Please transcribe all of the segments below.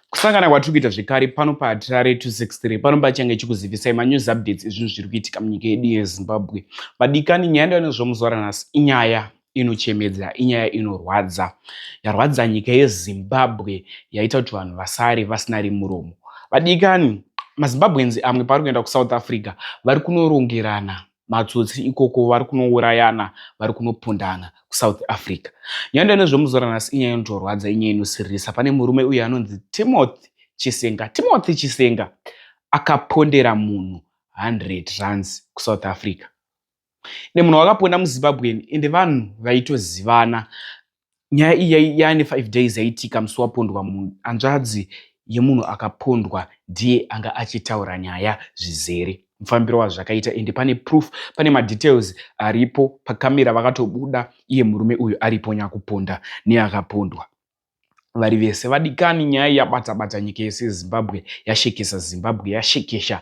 Kusangana kwatiri kuita zvekare pano paHarare 263 pano pachange chikuzivisai manews updates ezvinhu zviri kuitika munyika yedu yeZimbabwe. Vadikani, nyaya ndovanozwa muzuva ranhasi inyaya inochemedza, inyaya inorwadza, yarwadza nyika yeZimbabwe, yaita kuti vanhu vasare vasina rimuromo. Vadikani, maZimbabweans amwe pavari kuenda kuSouth Africa vari kunorongerana matsotsi ikoko vari kunourayana vari kunopondana kusouth africa nyaya ndane zvemuzora nhasi inyaya inotorwadza inyaya inosiririsa pane murume uye anonzi timothy chisenga timothy chisenga akapondera munhu 100 runs kusouth africa ende munhu wakaponda muzimbabwean ende vanhu vaitozivana nyaya iyi yaane five days yaitika musi wapondwa munhu hanzvadzi yemunhu akapondwa ndiye anga achitaura nyaya zvizere mufambiro wazvo zvakaita ende pane proof pane madetails aripo pakamera vakatobuda iye murume uyu aripo nyakuponda neakapondwa vari vese vadikani nyaya yabata bata nyika yese yezimbabwe yashekesa zimbabwe yashekesha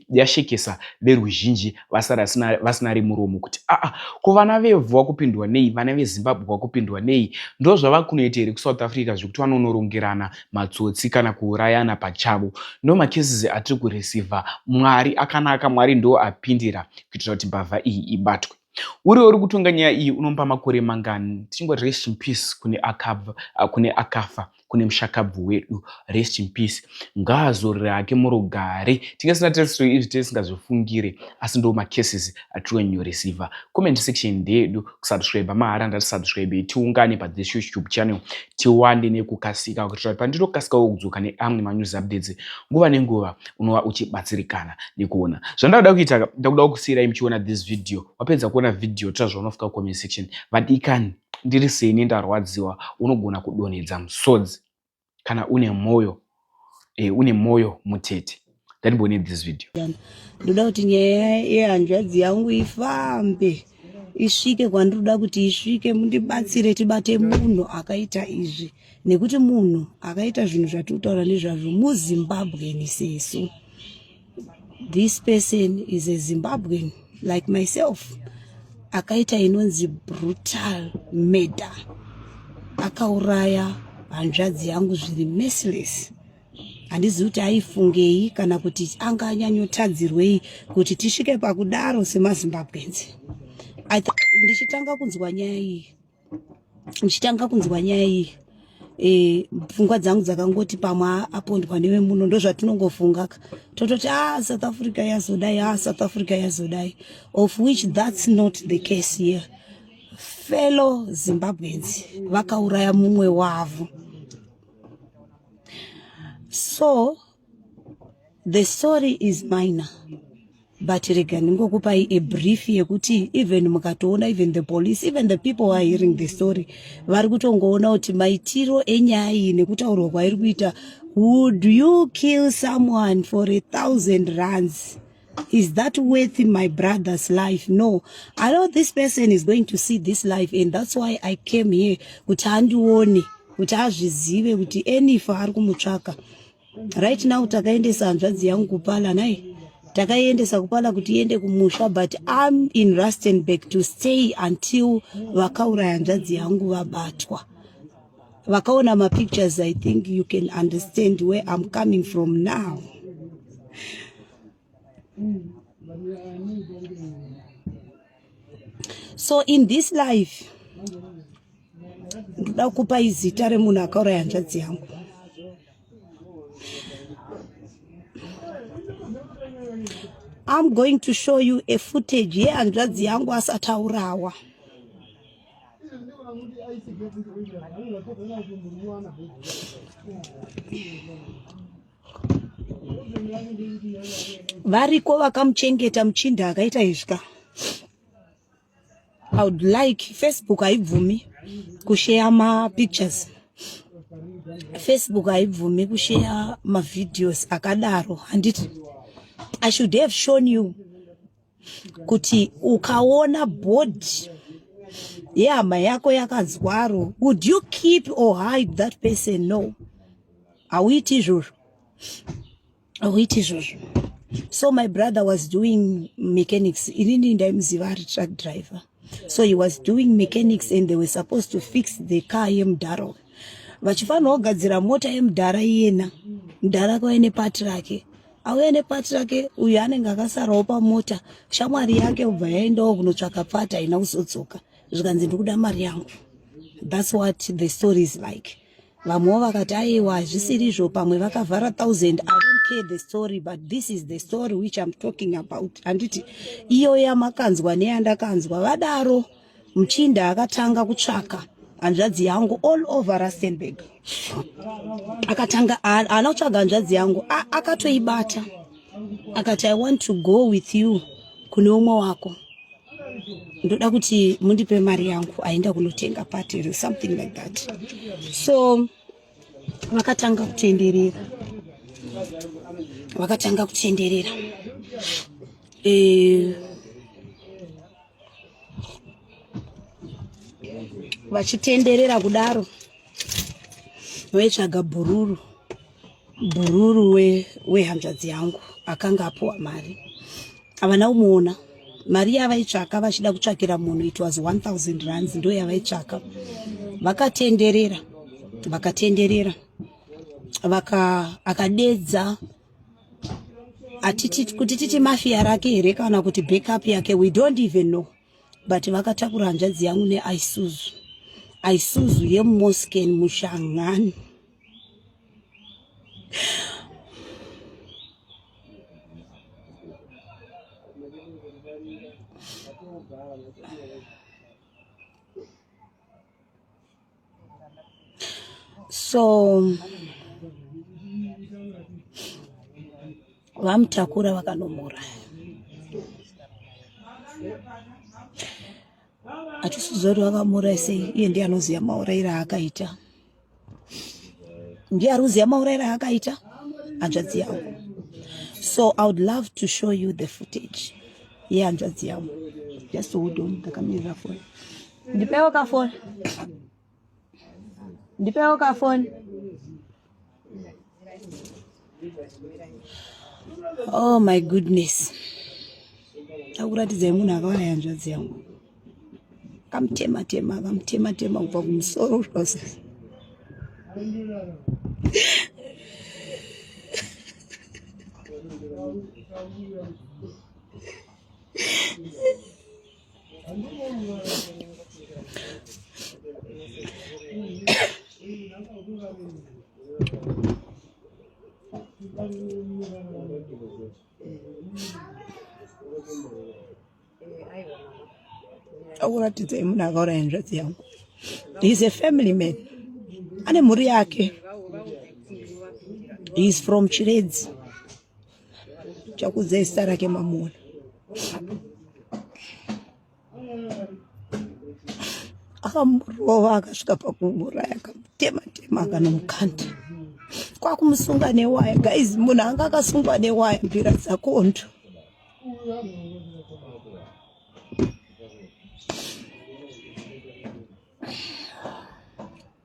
yashekesa veruzhinji vasara vasina remuromo kuti aa ah, ah, ko vana vevhu vakupindwa nei vana vezimbabwe vakupindwa nei ndo zvava kunoita here kusouth africa zvekuti vanonorongerana matsotsi kana kuurayana pachavo ndo makeses atiri kureceiva mwari akanaka mwari ndo apindira kuitira kuti mbavha iyi ibatwe uriwo uri kutonga nyaya iyi unomba makore mangani tichingoti rest in peace kune akabva kune akafa kune mushakabvu wedu rest in peace ngaazorere hake murugare tinge tisina tese izvi tisingazvifungire asi ndo macases atiri new receiver comment section ndeyedu kusubscribe mahara ndatisubscribe tiungane padzeshe youtube channel tiwande nekukasika kuitira kuti pandinokasikawo kudzoka neamwe manews updates nguva nenguva unova uchibatsirikana nekuona zvandakuda kuita ndakudawo kusiirai muchiona this video wapedza kuona video tora zvaunofika comment section vadikani ndiri seni ndarwadziwa unogona kudonhedza musodzi kana une moyo eh, une moyo mutete ndandibone this video ndoda kuti nyaya yehanzvadzi yangu ifambe isvike kwandinoda kuti isvike mundibatsire tibate munhu akaita izvi nekuti munhu akaita zvinhu zvatiri kutaura nezvazvo muzimbabweni sesu This person is a Zimbabwean like myself akaita inonzi brutal murder akauraya hanzvadzi yangu zviri merciless handizivi kuti aifungei kana kuti anga anyanyotadzirwei kuti tisvike pakudaro semazimbabwenzi ndichitanga kunzwa nyaya iyi ndichitanga kunzwa nyaya iyi eh, pfungwa dzangu dzakangoti pamwe apondwa newe muno ndozvatinongofunga ka tototi a ah, south africa yazodai a ah, south africa yazodai of which that's not the case here fellow zimbabweans vakauraya mumwe wavo so The story is minor but rega ndingokupai a brief yekuti even mukatoona even the police even the people who are hearing the story vari kutongoona kuti maitiro enyaya iyi nekutaurwa kwairi kuita would you kill someone for a thousand runs Is that worth my brother's life? No. I know this person is going to see this life and that's why I came here kuti andione kuti azvizive kuti enifa ari kumutsvaka right now takaendesa hanzvadzi yangu kupala nai takaiendesa kupala kuti iende kumusha but am in rustenburg to stay until vakauraya hanzvadzi yangu vabatwa vakaona mapictures i think you can understand where i'm coming from now so in this life ndoda kupa izita remunhu akauraya hanzvadzi yangu I'm going to show you a footage yehanzvadzi yangu asataurawa variko vakamuchengeta muchinda akaita izvi ka i would like facebook haibvumi kusheya mapictures facebook haibvumi kusheya mavideos akadaro handiti i should have shown you kuti ukaona body yehama yako yakazwaro would you keep or hide that person no hauiti izvozvo hauiti izvozvo so my brother was doing mechanics inini ndaimuziva ari truck driver so he was doing mechanics and they were supposed to fix the car yemudhara vachifanira kugadzira mota yemudhara iyena mudhara kwave nepati rake auya nepati rake uyu anenge akasarawo pamota shamwari yake ubva yaendawo kunotsvaka pati haina kuzodzoka zvikanzi ndikuda mari yangu thats what the story is like vamwewo vakati aiwa hazvisiri izvo pamwe vakavhara thousand i don't care the story but this is the story which im talking about handiti iyoyo yamakanzwa neyandakanzwa vadaro muchinda akatanga kutsvaka hanzvadzi yangu all over rustenburg akatanga haana kutsvaga hanzvadzi yangu akatoibata akati i want to go with you kune umwe wako ndoda kuti mundipe mari yangu aenda kunotenga pati something like that so vakatanga kutenderera vakatanga kutenderera e, vachitenderera kudaro vaitsvaga bhururu bhururu wehanzvadzi we yangu akanga apuwa mari havana kumuona mari yavaitsvaka vachida kutsvakira munhu it was 1000 rands ndo yavaitsvaka vakatenderera vakatenderera vaka akadedza atiti kuti titi mafia rake here kana kuti backup yake we don't even know but vakatakura hanzvadzi yangu neaisuzu aisuzu yemosken mushangani so vamutakura vakanomuuraya hatisiziva kuti vakamuuraya sei iye ndiye anoziva maurayiro aakaita ndiye ari kuziva maurayiro aakaita hanzvadzi yangu so i would love to show you the footage yehanzvadzi yangu just hold on ndakamirira foni yeah, Ndipewo ka phone. Ndipewo ka phone. Oh my goodness. Takuratidzai munhu akawana yanzvadzi yangu. Kamtema tema, kamtema tema kubva kumusoro zvose. akuratidzai munhu akauraya nzvadzi yangu heis a family man ane mhuri yake heis from chiredzi chakudzai zita rake mamuona akamurova akasvika pakumuraya akamutema tema akanomukanda kwakumusunga newaya guys munhu anga akasungwa newaya mbira dzakondo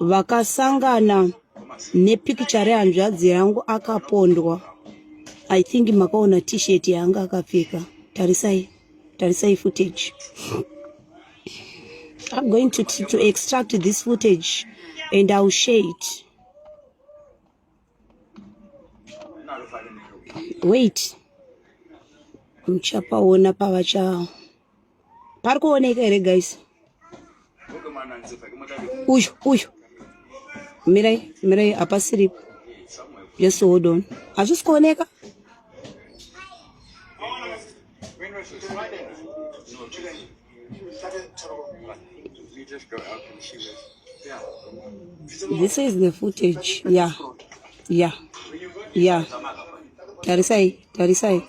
vakasangana nepikicha rehanzvadzi yangu akapondwa i think makaona t-shirt yaanga akapfeka tarisai tarisai footage i'm going to, to extract this footage and iwill share it wait muchapaona pavacha pari kuoneka here guys uyu uyu mirai mirai hapasiripo just hold on hazvisi kuoneka This is the footage. Yeah. Yeah. Yeah. Tarisai, Tarisai.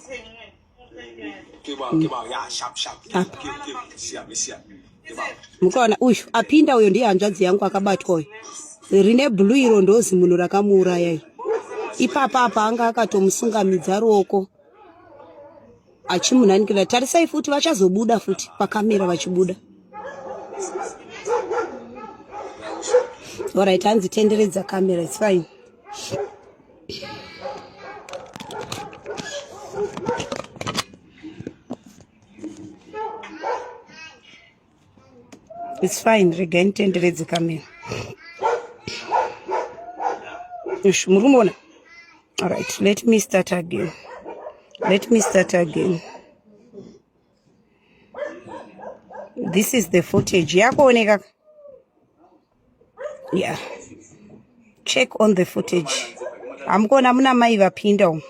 Mukaona uyu apinda uyo ndiye hanzvadzi yangu akabatwa uyo. Rine blue iro ndozi munhu rakamuuraya. Ipapa apa anga akatomusungamidza ruoko. achimunanikira tarisai futi vachazobuda futi pakamera vachibuda orit hanzi tenderedza kamera its fine It's fine, regai nditenderedze kamera. Ish, muri kumuona? All right, let me start again. Let me start again. This is the footage. Yakuoneka? Yeah. Check on the footage. Hamkuona muna mai vapinda umu.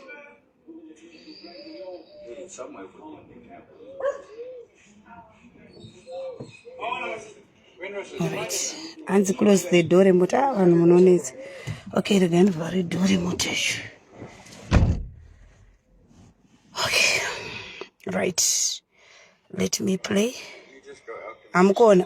Alright. Hanzi close the door remote. Ah, vanhu munonetsa. Okay, rega ndivhare door remote yacho. Okay. Right. Let me play. Hamukuona.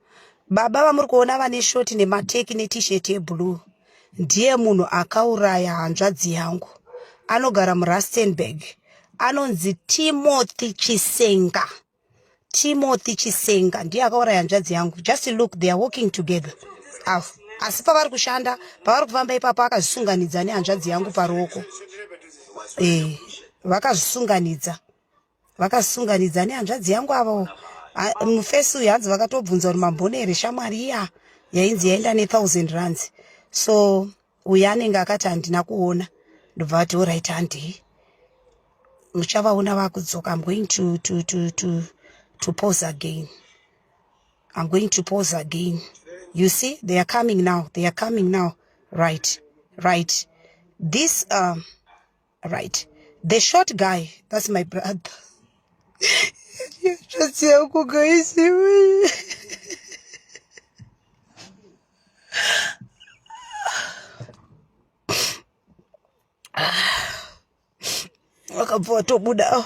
Baba vamuri kuona vane shoti nemateki netishet yeblue ndiye munhu akauraya hanzvadzi yangu anogara murustenburg anonzi timothy chisenga timothy chisenga ndiye akauraya hanzvadzi yangu just look they are walking together avo asi pavari kushanda pavari kufamba ipapo akazvisunganidza nehanzvadzi yangu paruoko e, vakazvisunganidza vakasunganidza nehanzvadzi yangu avo mufesi uyu hanzi vakatobvunza kuti mambone here shamwari iya yainzi yaenda nethousand runs so uyu anenge akati handina kuona ndobva vati orit handei muchavaona vakudzoka im going to, to, to, to, to pose again im going to pose again you see they are coming now they are coming now right right this um, right the short guy that's my brother Just eu com conhecimento. Acabou, eu tô mudando.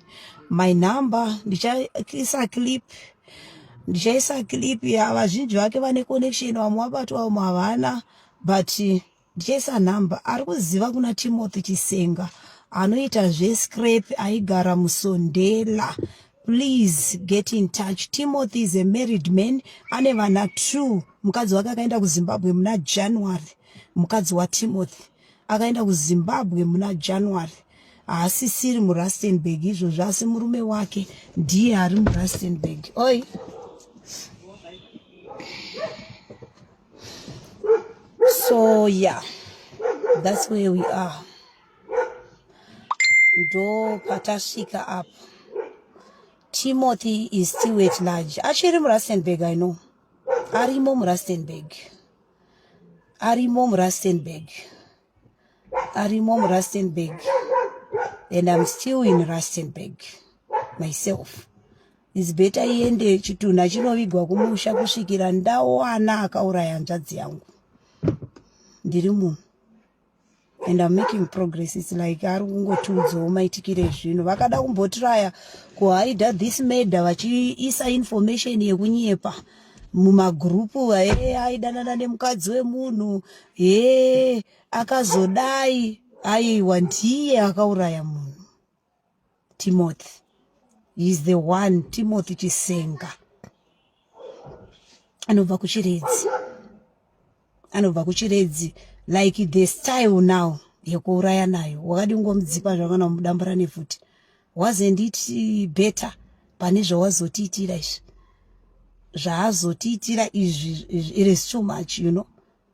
my number ndichaisa clip ndichaisa clip ya vazhinji vake vane connection vamwe vabatwa vamwe havana but ndichaisa number ari kuziva kuna timothy chisenga anoita zvescrap aigara musondela please get in touch timothy is a married man ane vana two mukadzi wake akaenda kuzimbabwe muna january mukadzi watimothy akaenda kuzimbabwe muna january haasisiri murustenburg izvozvo asi murume wake ndiye ari murustenburg oi so yeah that's where we are ndo patasvika apo timothy is still at large achiri murustenburg i know arimo murustenburg arimo murustenburg arimo murustenburg and i'm still in rustenburg myself is better iende chitunha chinovigwa kumusha kusvikira ndawana akauraya hanzvadzi yangu ndiri munhu and I'm making progress it's like ari kungotiudzawo maitikire ezvinhu vakada kumbotiraya kuhaida this murder vachiisa information yekunyepa mumagrupu hee aidanana nemukadzi wemunhu hee akazodai aiwa ndiye akauraya munhu Timothy is the one Timothy Chisenga anobva kuchiredzi anobva kuchiredzi like the style now yekuuraya nayo wakadi kungomudzipa zvakana kumudambura nefuti wasn't it better pane zvawazotiitira izvi zvaazotiitira izvi it is too much you know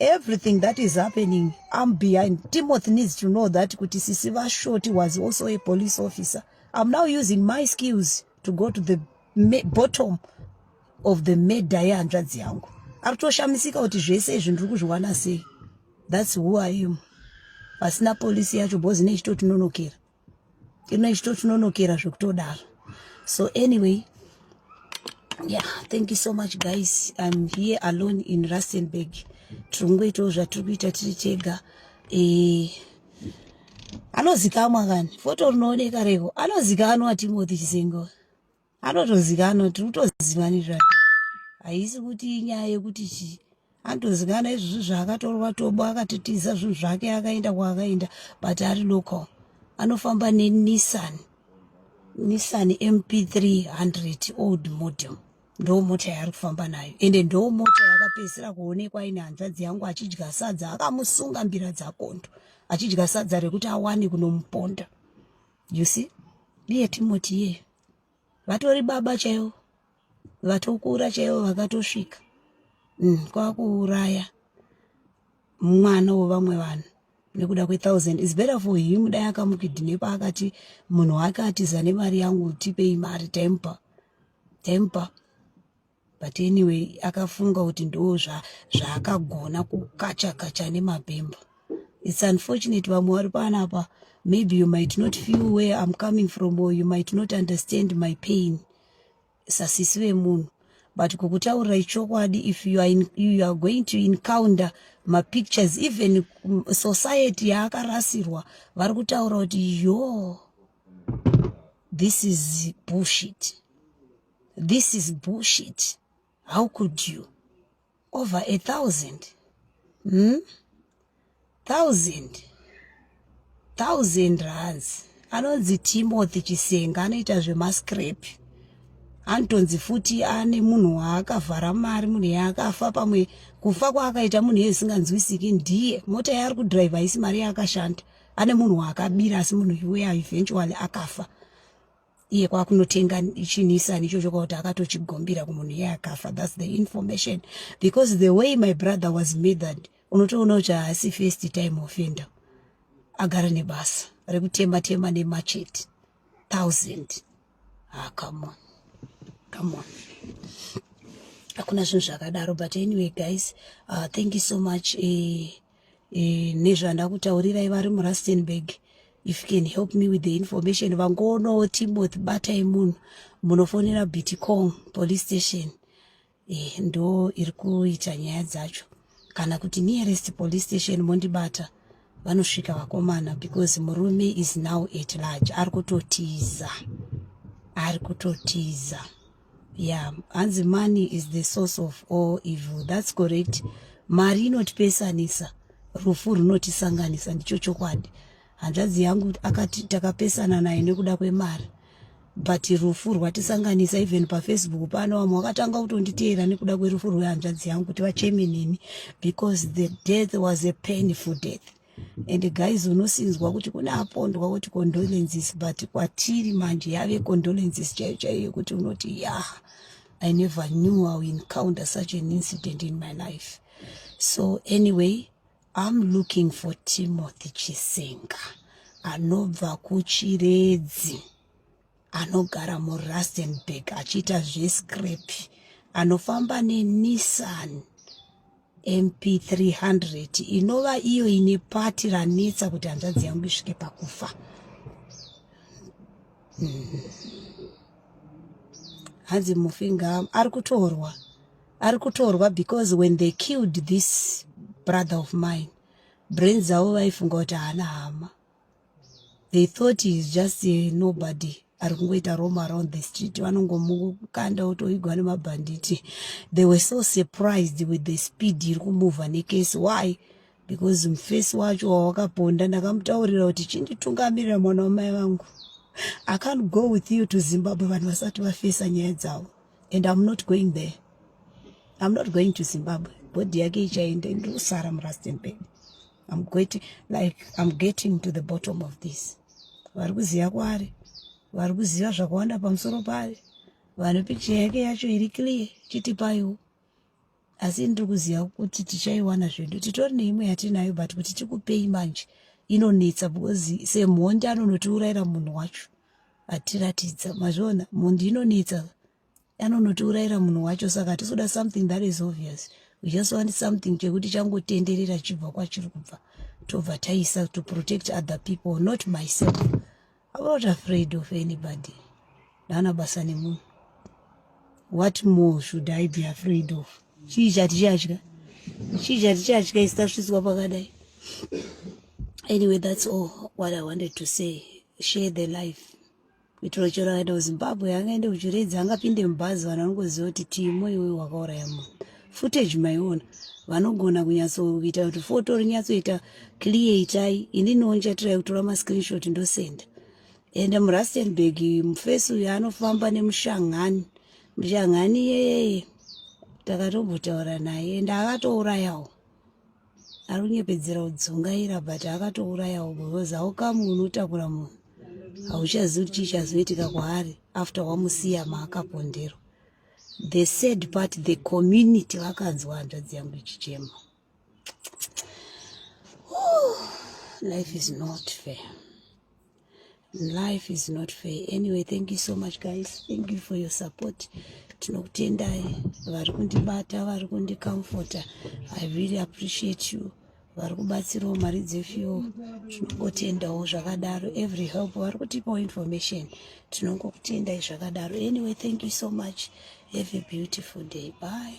everything that is happening i'm behind timothy needs to know that kuti sisi vashoti was also a police officer i'm now using my skills to go to the bottom of the murder yehanzvadzi yangu ari kutoshamisika kuti zvese izvi ndiri kuzviwana sei thats who i am pasina polisi yacho bhozi nechitotinonokera ino ichito chinonokera zvekutodaro so anyway yeah thank you so much guys i'm here alone in rustenburg tiri kungoitawo zvatiri kuita tiri tega eh, anozikamwa kani foto rinooneka revo anozikanwa timothy chisengo anotozikanwa tiri kutozivani zvayo haisi kuti inyaya yekuti chii anotozikana izvozvi zvaakatorwa tobo akatitiza zvinhu zvake akaenda kwaakaenda but ari local anofamba nenissan nissan mp3 100 old model ndoo mota yaari kufamba nayo ende ndoo mota yakapedzisira kuonekwa ine hanzvadzi yangu achidya sadza akamusunga mbira dzakondo achidya sadza rekuti awane kunomuponda you see ndiye timoti iyeyo vatori baba chaivo vatokura chaivo vakatosvika mm, kwakuuraya mwana wevamwe vanhu nekuda kwethousand is better for him dai akamukidhinepa akati munhu wake atiza nemari yangu tipei mari temper temper but anyway akafunga kuti ndo zvaakagona kukacha kacha nemabhembo it's unfortunate vamwe vari panapa maybe you might not feel where i'm coming from or you might not understand my pain sasisi vemunhu but kukutaurirai chokwadi if you are, in, you are going to encounter mapictures even society yaakarasirwa vari kutaura kuti yo this is bullshit this is bullshit how could you over a thousand hmm? thousand thousand rands anonzi timothy chisenga anoita zvemascrap anotonzi futi ane munhu waakavhara mari munhu yaakafa pamwe kufa kwaakaita munhu yezisinganzwisiki ndiye mota yaari kudrive haisi mari yaakashanda ane munhu waakabira asi munhu uya eventually akafa iye kwakunotenga chinisani ichocho kwakuti akatochigombira kumunhu iye akafa thats the information because the way my brother was mithered unotoona kuti haasi first time offender agara nebasa rekutema tema nemachete thousand ah, come on come on hakuna zvinhu zvakadaro but anyway guys uh, thank you so much eh, eh, nezvandakutaurirai vari murustenburg if you can help me with the information vangoonawo timothy batai munhu munofonera bitcong police station eh, ndo iri kuita nyaya dzacho kana kuti nearest police station mondibata vanosvika vakomana because murume is now at large ari kutotiza ari kutotiza yeah hanzi money is the source of all evil that's correct mari inotipesanisa rufu runotisanganisa ndicho chokwadi hanzvadzi yangu akati takapesana naye nekuda kwemari but rufu rwatisanganisa even pafacebook pano vamwe vakatanga kutonditeera nekuda kwerufu rwehanzvadzi yangu kuti vacheme neni because the death was a painful death and guys unosinzwa kuti kune apondwa kuti condolences but kwatiri manje yave condolences chaiyo chaiyo yekuti unoti yah i never knew iw encounter such an incident in my life so anyway i'm looking for timothy chisenga anobva kuchiredzi anogara murustenburg achiita zvescrap anofamba nenissan mp 300 inova iyo ine pati ranetsa kuti hanzvadzi yangu isvike pakufa mm. hanzi mufinga ari kutorwa ari kutorwa because when they killed this brother of mine brain dzavo vaifunga kuti haana hama they thought he's just a nobody ari kungoita rome around the street vanongomukanda otoigwa nemabhanditi they were so surprised with the speed iri kumuvha nekesi why because mufesi wacho wawakaponda ndakamutaurira kuti chinditungamirira mwana wamai vangu i can't go with you to zimbabwe vanhu vasati vafesa nyaya dzavo and im not going there im not going to zimbabwe bhodhi yake ichaenda ndiri kusara murastenburg I'm getting, like, I'm getting to the bottom of this vari kuziva kwaari vari kuziva zvakawanda pamusoro paari vane pikicha yake yacho iri clear chitipaiwo asi ndiri kuziva kuti tichaiwana zvedu titori neimwe yatinayo but kuti tikupei manje inonetsa because semhondi anonotiurayira munhu wacho atiratidza mazviona mhondi inonetsa anonotiurayira munhu wacho saka tisoda something that is obvious we just want something chekuti changotenderera chibva kwachiri kubva tobva taisa to protect other people not myself I'm not afraid of anybody ndana basa nemunhu what more should i be afraid of chii chatichadya chii chatichadya isi tasviswa pakadai anyway that's all what i wanted to say share the life kuitira chero akaenda kuzimbabwe angaende kuchiredzi angapinde mubhazi vanhu vanongoziva kuti timo iwoyo wakauraya munhu footage maiona vanogona kunyatsoita kuti foto rinyatsoita clear itai ini nonchatirai kutora mascreenshot ndosenda ende murustenburg mufesi uyo anofamba nemushangani mushangani yeye takatombotaura naye ende akatourayawo ari kunyepedzera kudzungaira but akatourayawo because haukamu unotakura munhu hauchazivi kuti chii chazoitika kwaari after wamusiya maakapondero the sad part the community vakanzwa hanzvadzi yangu ichichema life is not fair life is not fair anyway thank you so much guys thank you for your support tinokutendai vari kundibata vari kundicomforta i really appreciate you vari kubatsirawo mari dzefuel tinongotendawo zvakadaro every help vari kutipawo information tinongokutendai zvakadaro anyway thank you so much have a beautiful day bye